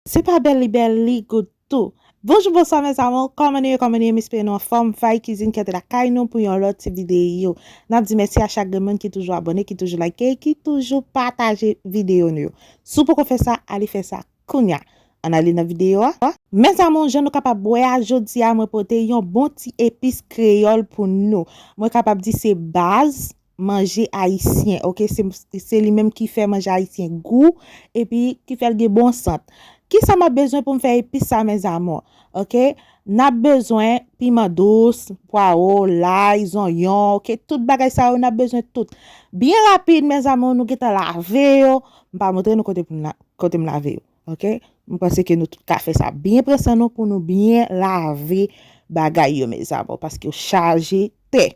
Se pa bèl li bèl li goud tou. Bonjou bonswa mes amour kòman nou ye kòman nou ye m espere nou anfòm Faye cuisine kèt lakay nou pou yon lòt ti video nap di mèsi a chak grenn moun ki toujou abòne ki toujou like ki toujou pataje video nou yo si w poko fè sa ale fè sa kounya ann ale nan video a. Mes amour jan nou kapab wè a jodia mwen pote yon bon ti epis kreyòl pou nou mwen kapab di se baz manje ayisyen ok se li menm ki fè manje ayisyen gou epi ki fèl gen bon sant kisa map bezwen poum fè epis sa mes amour ok nap bezwen piman dous pwaro lay zonyon ok tout bagay sa yo nap bezwen tout byen rapid mes amour nou gentan lave yo m pa montre nou kote m lave yo Ok m panse ke nou tout ka fè sa byen pran san nou pou nou byen lave bagay yo mes amour paske yo chaje tè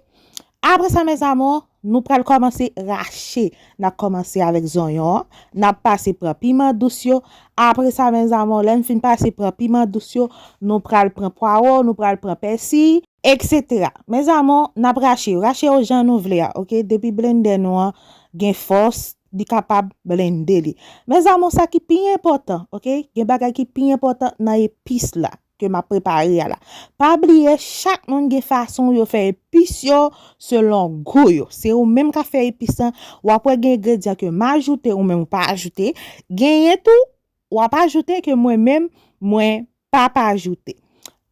apre sa mes amour nou pral kòmanse rache nap kòmanse avèk zonyon an nap pase pran piman dous yo apre sa mes amour lèn fin pase pran piman dous yo nou pral pran pwawo nou pral pran pèsi etc mes amour nap rache yo rache yo jan nou vle a ok depi blendè nou an gen fòs. li kapab blende li mes amour sa ki pi enpòtan ok gen bagay ki pi enpòtan nan epis la ke map prepare a la pa bliye chak moun gen fason yo fè epis yo selon gou yo se ou menm kap fè epis lan wap wè gen egredyan ke m ajoute ou menm ou pa ajoute genyen tou Wap ajoute ke mwen menm mwen pap ajoute.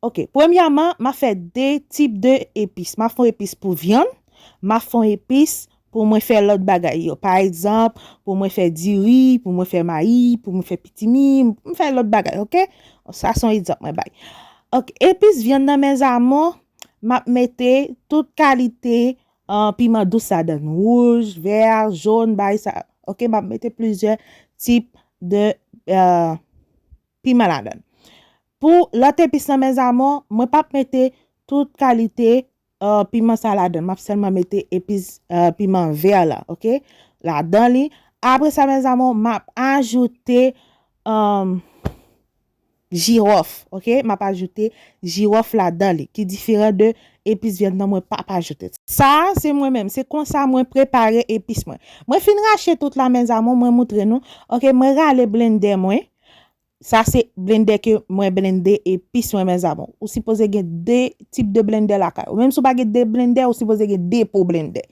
Ok premyaman map fè 2 tip de epis map fon epis pou vyann map fon epis pou mwen fè lòt bagay yo pa egzanp pou mwen fè diri pou mwen fè mayi pou mwen fè pitimi mwen fè lòt bagay ok sa son egzanp mwen bay ok epis vyann nan mes amour map mete tout kalite An piman dous sa donne wouj, vert, jaune bay sa ok map mete plizyè tip de piman la donne. Pou lot epis lan mes amour mwen pap mete tout kalite piman sa la donne map selman mete epis piman vert la ok la donne li apre sa mes amour map ajoute Jiròf ok map ajoute jiròf ladan li ki diferan de epis vyann nan mwen pap ajoute l. Sa a se mwen menm se konsa mwen prepare epis mwen. Mwen fin rache tout la mes amour mwen moutre nou ok mwen rale blendè mwen sa se blendè ke mwen blende epis mwen mes amour ou sipoze gen 2 tip de blendè lakay ou menm si ou pa gen 2 blendè ou sipoze gen 2 po blendè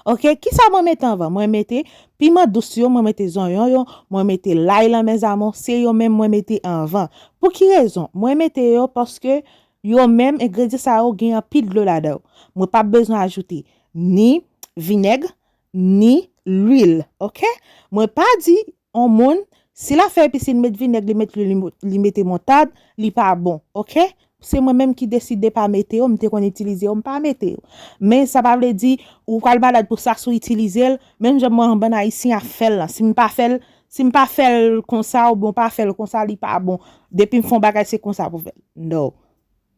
ok kisa mwen mete anvan mwen mete Piman dous yo mwen mete zonyon yo mwen mete lay lan mes amour se yo menm mwen mete anvan pou ki rezon mwen mete yo paske yo menm engredyan sa yo gen anpil dlo ladan mwen pap bezwen ajoute ni vinèg ni lwil ok mwen pa di on moun si lap fè epice li met vinèg li met lwil li mete moutad li pa bon ok Se mwen menm ki deside pa mete yo, m te konn itilize yo, m pa mete yo. Men sa pa vle di ou pral malad pou sa si w itilize l, menm jan mwen bann ayisyen ap fè l lan. Si m pa fè l, si m pa fè l konsa oubyen w pa fè l konsa li pa bon. Depi m fè yon bagay se konsa pou fè l. No.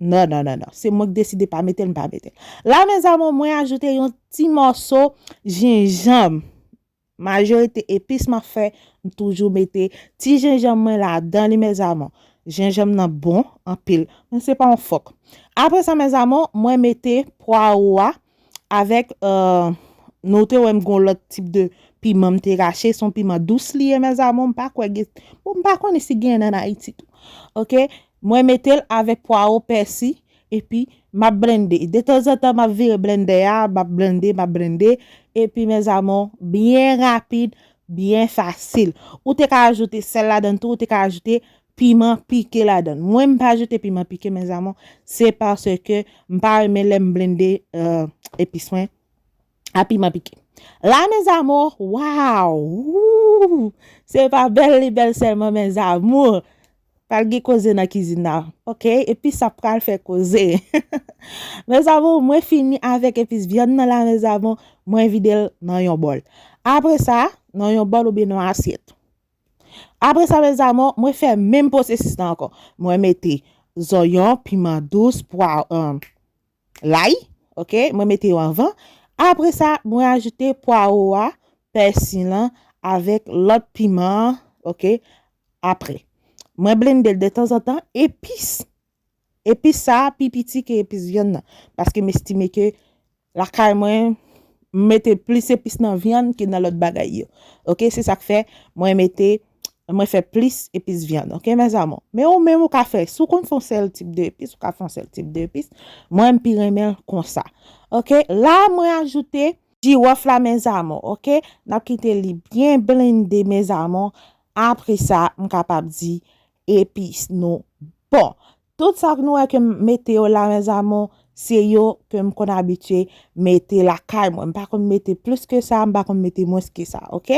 No no no no. Se mwen ki deside pa mete l, m pa mete l. La mes amour mwen ajoute yon ti mòso jenjanm. Majorite epis map fè m toujou mete ti jenjanm mwen ladan li mes amour jenjanm nan bon anpil men se pa yon fòk aprè sa mes amour mwen mete pwaro a avèk nou te wèm gon lòt tip de piman m te rache son piman dous li ye mes amour m pa kwè gen bon m pa konnen si genyen an ayiti tou ok mwen metel avèk pwaro pèsi Epi, m ap blende. Detanzantan, m ap vire blendè a, m ap blende, m ap blende. Epi, mèzamou, byen rapid, byen fasil. Ou te ka ajoute sèl ladann tou, ou te ka ajoute piman pike ladann. Mwen, m pa ajoute piman pike, mèzamou, se paske m pa renmen lè m blende epis mwen a piman pike. La, mèzamou, waw! Wouuw! Se pa bèl li bèl sèlman, mèzamou! Pral gen koze nan kizin nan ok epis sa pral fè koze mes amour mwen fini avèk epis vyann nan la mes amour mwen vide l nan yon bòl apre sa nan yon bòl oubyen nan yon asyèt apre sa mes amour mwen fè menm pwosesis nan ankò mwen mete zonyon piman dous pwa Layi, ok, mwen mete yo anvan. Apre sa, mwen ajoute pwaro a, pèsi lan avèk lòt piman an, ok, apre. Mwen blende l detanzantan, epis. Epis sa a pi piti ke epis vyann nan. Paske m estime ke lakay mwen mete plis epis nan vyann ke nan lòt bagay yo. Ok, se sa k fè mwen mete Mwen fè plis epis vyann, ok mes amours. Men ou menm ou ka fè, si ou konn fè yon sèl tip de epis, ou ka fè yon sèl tip de epis. Mwen m pi renmen l konsa. Ok, la mwen ajoute jirof la mes amours, ok. Nap kite li byen blende mes amours, apre sa m kapab di epis nou bon. Tout sak nou wè kem mete yo la mes amours se yo kem konn abitye mete lakay mwen m pa konn mete plus ke sa m pa konn mete mwens ke sa ok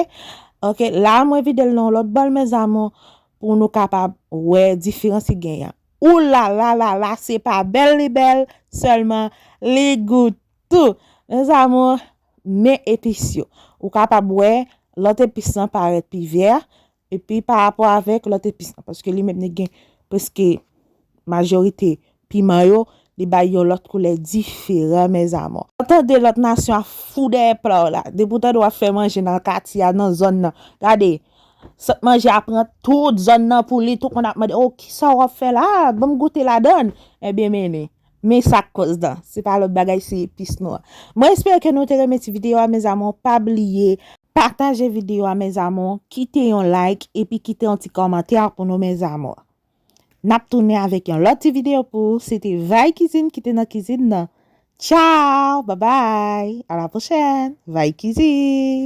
ok la mwen videl nan yon lòt bòl mes amours pou nou kapab wè diferans ki gen yan ou la la la la se pa bèl li bèl sèlman li gou tou mes amours men epis yo ou kapab wè lòt epis lan parèt pi vert Epi pa rapò avèk lòt epis nan, paske li menm li gen preske majorite piman yo, li bay yon lòt koulè diferan mèzamò. Ou tande lòt nasyon ap fou dèyè pla w la, depi w tande w ap fè manje nan katye a, nan zòn nan, gade, sant manje a pran tout zòn nan pou li, tout moun ap mande, o, kisa w ap fè la a, ban m goute ladann, enben mennen. Men sak koz dan. Se pa lot bagay se epis nwa. Mwen espere ke nou te renmen ti video a mes amour pa bliye. Pataje video a mes amour kite yon like epi kite yon ti komantè pou nou mes amour. Nap tounen avek yon lot ti video pou ou se te vay kizin kite nan kizin nan. Ciao babay a la prochèn vay kizin.